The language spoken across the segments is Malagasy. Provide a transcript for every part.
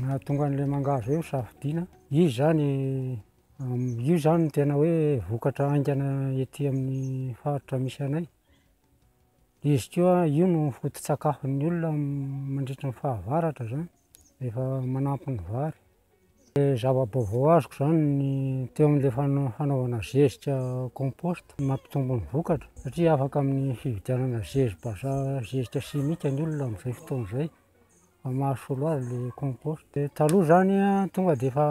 Nahatonga an'ilay mangahazo hoe hosafidiana, izy izany, io izany no tena hoe vokatra haingana ety amin'ny faritra misy anay, Izy koa io no foto-tsakafon'ny olona mandritra ny fahavaratra izany rehefa manampy ny vary. Ny zava-baovao azoko izany ny teo amin'ilay fana- fanaovana zezika compost mampitombo ny vokatra satria afaka amin'ny fividianana zezi-bazaha zezika simika ny olona amin'izay fotoana izay fa mahasolo azy ilay compost. Dia taloha izany an, tonga dia efa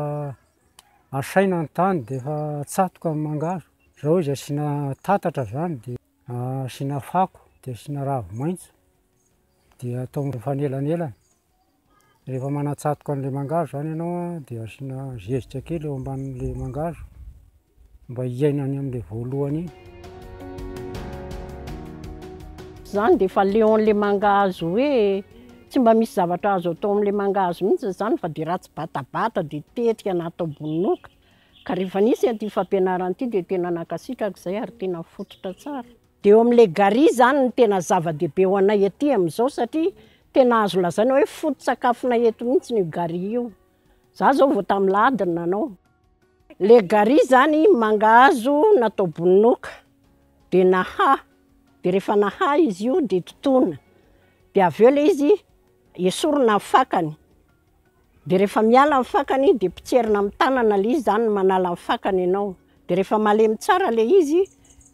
asaina ny tany dia efa atsatoka ny mangahazo, izao izy asiana tatatra izany dia. Asiana fako dia asiana ravi maitso dia atao mifanelanelana, rehefa manatsatoka an'ilay mangahazo zany ianao an dia asiana zezika kely eo ambanin'ilay mangahazo mba hiainany amin'ilay voalohany iny. Zany dia efa leo an'ilay mangahazo hoe tsy mba misy zavatra azo atao amin'ilay mangahazo mihintsy zany fa dia ratsy batabata dia tetika na atao bononoka. Ka rehefa nisy an'ity fampianarana ity dia tena nankasitraka izay ary tena fototra tsara. Dia eo amin'ilay Gary izany no tena zava-dehibe ho anay aty amin'izao satria tena azo lazaina hoe foto-tsakafonay eto mihitsy io Gary io. Izaho izao vao tamin'ny lahady no nanao. Ilay Gary izany mangahazo natao bononoka, dia nahaha, dia rehefa nahaha izy io dia totoina, dia avy eo ilay izy esorina ny fakany. Dia rehefa miala ny fakany dia potserina amin'ny tanana ilay izy, izany no manala ny fakany ianao. Dia rehefa malemy tsara ilay izy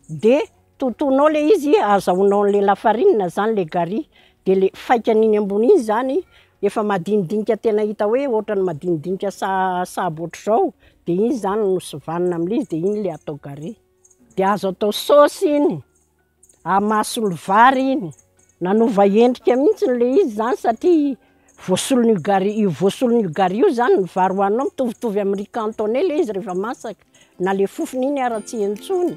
dia totoinao ilay izy, azahoanao an'ilay lafarinina izany ilay gary, dia ilay faikany iny ambony iny izany efa madinidinika tena hita hoe ohatran'ny madinidinika sa- sahabo ohatr'izao, dia iny izany no sovanina amin'ilay izy dia iny ilay atao gary. Dia azo atao saosy iny. Amason'ny vary iny. Nanova endrika mihitsy ilay izy izany satria voasolon'io gari- io voasolon'io gari io izany ny vary hohaninao, mitovitovy amin'ny riz cantonais ilay izy rehefa masaka, na ilay fofony iny ara tsy heno intsony.